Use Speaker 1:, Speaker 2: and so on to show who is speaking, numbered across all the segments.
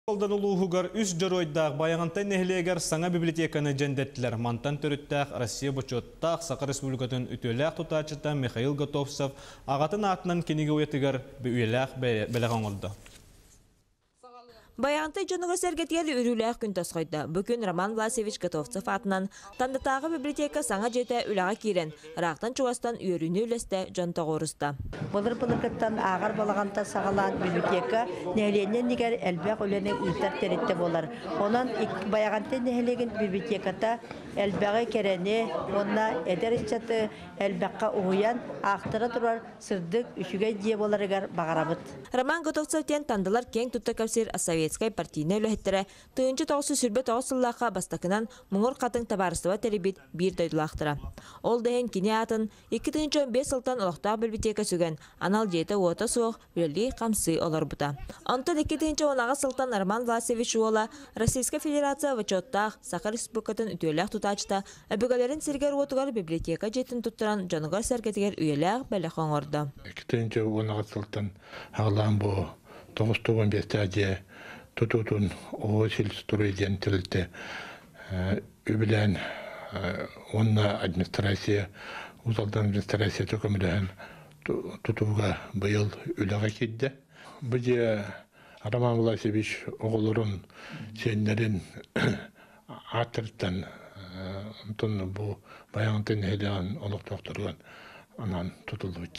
Speaker 1: Алдан улууһугар үс дьоруойдаах Байаҕантай нэһилиэгэр саҥа библиотеканы дьэндэртилэр. Мантан төрүттээх Россия бочуоттаах Саха Республикатын үтүөлээх тутааччыта Михаил Готовцев аҕатын аатынан кинигэ уйатыгар үйэлээх бэлэх оҥордо.
Speaker 2: Байаҕантай дьоного-сэргэтигэр үрүүлээх күн тосхойдо. Бу күн Роман Власьевич Готовцев аатынан Тандатааҕы библиотека саҥа дьиэтэ үлэҕэ киирэн, Ыраахтан-чугастан үөрүүнү-үлэстэ дьон тоҕуоруста. Былыр былыргыттан
Speaker 3: ааҕар балаҕанта саҕалаан библиотека нэһилиэнньэ иннигэр элбэх үлэни ыытар тэрилтэ буолар. Онон Байаҕантай нэһилиэгин библиотеката элбэҕи кэрэни уонна эдэр ыччаты элбэххэ уһуйан аахтара турар сырдык, үчүгэй дьиэ буоларыгар баҕарабыт. Роман Готовцев
Speaker 2: диэн Тандылар киэҥ тутта кэпсиир советскай партийнай үлэһиттэрэ Тыынча тоҕусу сүрбэ тоҕус сыллаахха бастакынан Муҥур Хатыҥ табаарыстыба тэрийбит биир дойдулаахтара. Ол да иһин кини аатын икки тыынча он биэс сылтан олохтоох бэлбитиэкэ сүгэн, анал дьиэтэ-уота суох, үлэлии-хамсыы олорбута. Онтон икки тыынча он аҕыс сылтан Роман Власевич уола, Российскай Федерация бочуоттаах Саха Республикатын үтүөлээх тутаачыта, өбүгэлэрин сиригэр-уотугар библиотека дьиэтин туттаран дьонугар-сэргэтигэр үйэлээх бэлэх оҥордо. Икки тыынча он аҕыс
Speaker 4: сылтан Аҕалаан бу тоҕус тугун биэстээх дьиэ тутуутун Оосильстрой диэн тэрилтэ үбүлээн уонна администрация Усалдан администрацията көмөлөһөн тутууга быйыл үлэҕэ киирдэ. Бу дьиэ Роман Власьевич оҕолорун, сиэннэрин ааттарыттан онтон бу Байаҕантан нэһилиэгин олохтоохторуган анаан тутуллубут.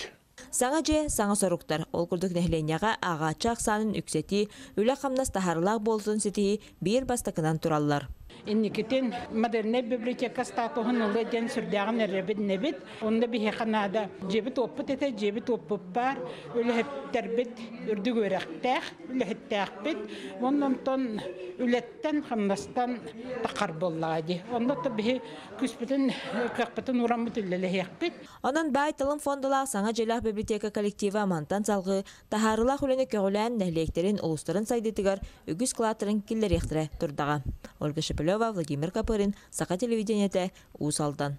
Speaker 4: Саҥа дьиэ,
Speaker 2: саҥа соруктар. Ол курдук нэһилиэнньэҕэ ааҕааччы ахсаанын үксэтии, үлэ-хамнас таһаарылаах буолутун ситиһии биир бастакынан тураллар. Инникитин
Speaker 5: модельнай библиотека статуһун ылыа диэн сүрдээҕин эрэбин-нэбит. Онно биһиэхэ наада. Дьиэбит-уоппут этэ, дьиэбит-уоппут баар. Үлэһиттэрбит үрдүк үөрэхтээх, үлэһиттээхпит. Онтон үлэттэн-хамнастан такар буоллаҕа дии. Онно да биһи күүспүтүн, кыахпытын уураммыт үлэлэһиэхпит. Онон баай талым
Speaker 2: фондулаах саҥа дьэлээх бибилэтиэкэ коллектива мантан салгыы таһаарыылаах үлэни көҕүлээн нэһилиэктэрин улуустарын сайдыытыгар үгүс кылааттарын киллэриэхтэрэ турдаҕа. Ольга Шепелева, Владимир Копырин, Саха телевидениетэ, Уус Алдан.